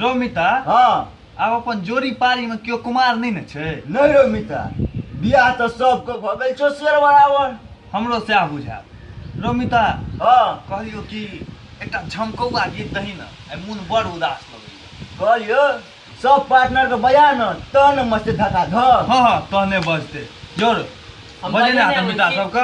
रो मिता हाँ आब अपन जोड़ी पारी में केओ कुमार नहीं ने छै नहीं रो मिता बियाह तो सबके भऽ गेल छौ शेर बराबर हमरो सएह बुझायल रो मिता हाँ कहलियो कि एकटा झमकौआ गीत दही ने आइ मोन बड़ उदास लगैया कहलियो सब पार्टनर के बजा न तहन मस्त धका धक हाँ हाँ तहने बजते जोर हम बजेने बजेने हाथ मिता आबै छी। सबके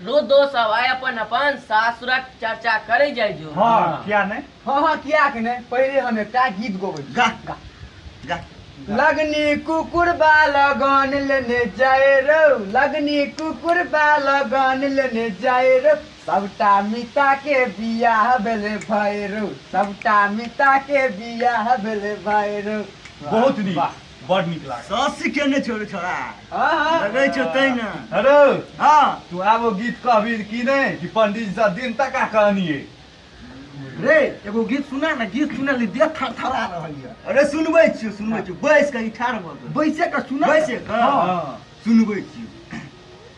रोदो सब आय अपन अपन सासुरक चर्चा करे जाइ जो हाँ किया नहीं हाँ हाँ किया के नहीं पहले हम एकटा गीत गोबै गा गा गा लगनी कुकुर बा लगन लेने जाए रौ लगनी कुकुर बा लगन लेने जाए रौ सबटा मिता के बियाह भेले भए रौ सबटा मिता के बियाह भेले भए रौ बहुत नीक बड़ नीक लागल सस्सी केने छौ रे छोरा लगै छौ तै ने हेलो हँ तू आबो गीत कहबी कि नहि कि पंडित जी दिन तक कहनिए रे एगो गीत सुना ने गीत सुने ली देह थरथरा रहल यऽ अरे सुनबै छियौ सुनबै छियौ बैस कऽ ई ठाढ़ भऽ कऽ बैसे के सुना बैसे कऽ? हँ। सुनबै छियौ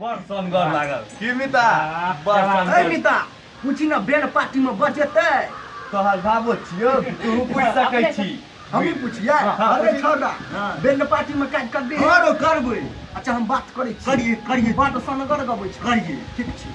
बड़ सनगर लागल की मिता बड़ ए सनगर मिता पूछी ना बेन पार्टी में बचेतै तोहर बाबो छियो तू पूछ सकै छी हमही पूछिए हाँ, अरे पूछी। छोड़ा हाँ। बेन पार्टी में काज कर दे हँ रौ करबै अच्छा हम बात करै छी करियै करियै बड़ सनगर गबै छै करियै ठीक छै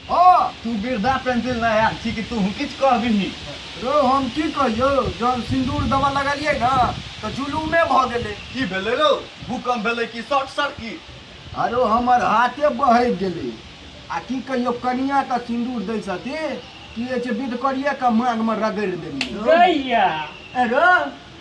हाँ तू वृद्धा पेंसिल ना यार छी कि तू किछ कह बिनी रो हम की कहियो जब सिंदूर दवा लगलिए ना तो जुलूमे भ गेले की भेले रो भूकंप भेले कि शॉर्ट सर्किट अरे हमर हाथे बहक गेले आ की कहियो कनिया के सिंदूर दै छथि कि जे विध करिए के मान में रगड़ देलिए गैया अरे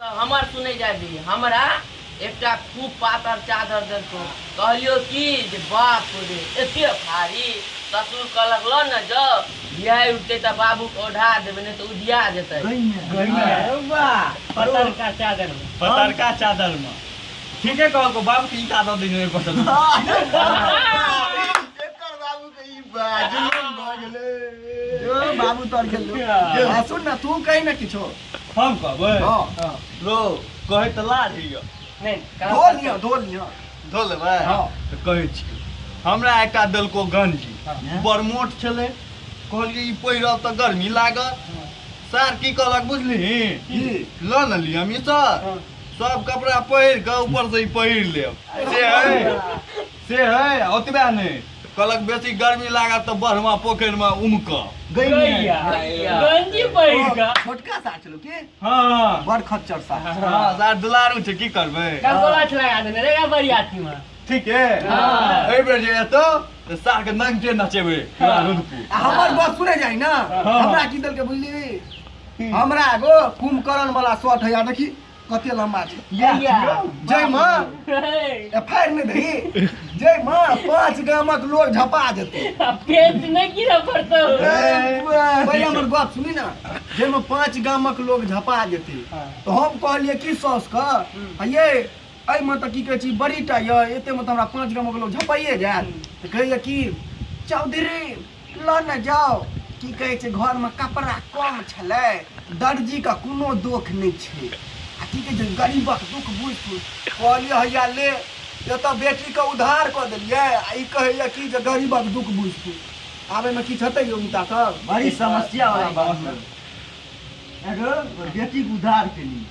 तँ हमर सुनै जाए दही। हमरा एकटा खूब पातर चादर देलकौ। कहलियौ कि जे बाप रे, एते भारी! ससुर कहलक लऽ ने जाउ। भियाइ उठतै तँ बाबूकेँ ओढ़ा देबै, नहि तँ उधिया जेतै। पतरका चादरमे। पतरका चादरमे। ठीके कहलकौ। बाबूकेँ ईंटा दऽ दही ने, ओहिपर सँ सुततै। एकर बाबूकेँ ई बा, जुलुम भऽ गेलै। जो, बाबू तोहर गेलौ। आ सुन ने, तूँ कहि ने किछो। हम कहबै हाँ। हाँ। लो कहै तऽ लाज होइए नहीं कहाँ धो लिअ धो लिअ धो लेबै हाँ। तऽ कहै छी हमरा एकटा देलको गंजी हाँ। बड़ मोट छलै कहलियै ई पहिरब तऽ गर्मी लागत हाँ। सर की कहलक बुझलिही की? लऽ ने लिअ मिसर हाँ। सब कपड़ा पहिर कऽ ऊपर से ई पहिर लेब से है से है ओतबे नहि कहलक बेसी गर्मी लागत तऽ बढ़मा पोखरि मे उमक गैया गंजी पहिर कऽ छोटका सा छलो के हँ बड़ खच्चर सा हँ सार दुलारू छै की करबै गंगोला छला लगा देने रे बरियाती में ठीक है हाँ। एहि बेर जे एतो तऽ सार के नंगे नचेबै पूरा रुदपुर आ हमर बात सुने जाइ ना हमरा की देलके बुझली हमरा एगो कुंभकर्ण वाला शॉट है यार देखी कते लम्बा छै इएह छियै। जाहिमे एफ आई आर नहि दही जाहिमे पाँच गामक लोग झपा जेतै पेट नहि गिरऽ पड़तौ पहिले हमर गप सुनी ने जाहिमे पाँच गामक लोग झपा जेतै तऽ हम कहलियै कि सौस के ये एहिमे तऽ की कहै छी बड़ी टा यऽ एतेमे तऽ हमरा पाँच गामक लोग झपाइए जायत तऽ कहैया कि चौधरी लऽ ने जाउ की कहै छै घरमे कपड़ा कम छलै दर्जीके कोनो दोख नहि छै आ की कहै छै गरीबक दुख बुझि सुझि कहलियै हैया ले एतऽ बेटीके उधार कऽ देलियै आ ई कहैया कि जे गरीबक दुख बुझि सुझि आब एहिमे किछु हेतै यौ हुनका सब बड़ी समस्या वाला बात है। एगो बेटी के उधार के लिए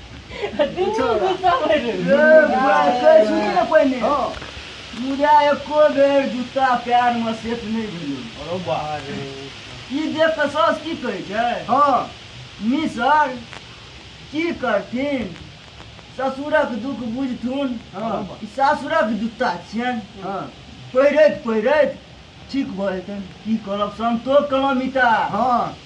मुदा एको बेर जूता प्यार में सेट नहीं भेल ई देख कऽ सास की कहै छै हाँ मिसर की करथिन ससुरक दुख बुझथुन हाँ। ई सासुरक जूता छियन हाँ। पहिरैत पहिरैत ठीक भऽ जेतनि की करब संतोष कलमिता हाँ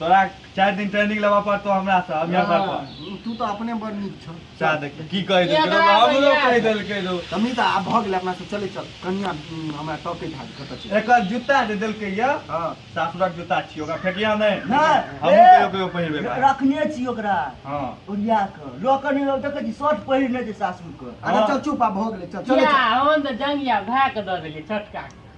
तोरा चारि दिन ट्रेनिंग लेबऽ पड़तौ हमरा से हम यहाँ पर हाँ, तू तो अपने बड़ नीक छौ चाह देख की कहि देलकै एकरा रौ, हमरो भैया। कहि देलकै रौ तमी तऽ आब भऽ गेलै अपना सब चले चल कनिया उम, हमरा टॉपे धार कतऽ छै एकर जूता जे देलकै यऽ हाँ सासुरक जूता छियै ओकरा फेकिया नहि नहि, हमहूँ ए। कहियो कहियो पहिरबै बाप। रखने छी ओकरा हँ ओरिया कऽ लऽ कऽ नहि देखै छी शर्ट पहिरने छै सासुर कऽ अरे चल चुप आब भऽ गेलै चल चले या चल हम तऽ जंगिया भए कऽ दऽ देलियै छोटका के।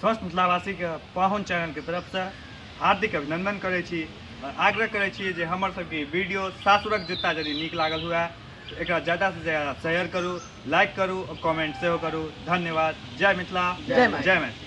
स्वस्थ मिथिलावासीके पाहुन चैनलके तरफसँ हार्दिक अभिनंदन करै छी आओर आग्रह करै छी जे हमर सबके वीडियो सासुरक जूता यदि नीक लागल हुए तऽ एकरा ज्यादासँ ज्यादा शेयर करू लाइक करू आओर कमेंट सेहो करू धन्यवाद जय मिथिला जय मैथिली। जय मैथिली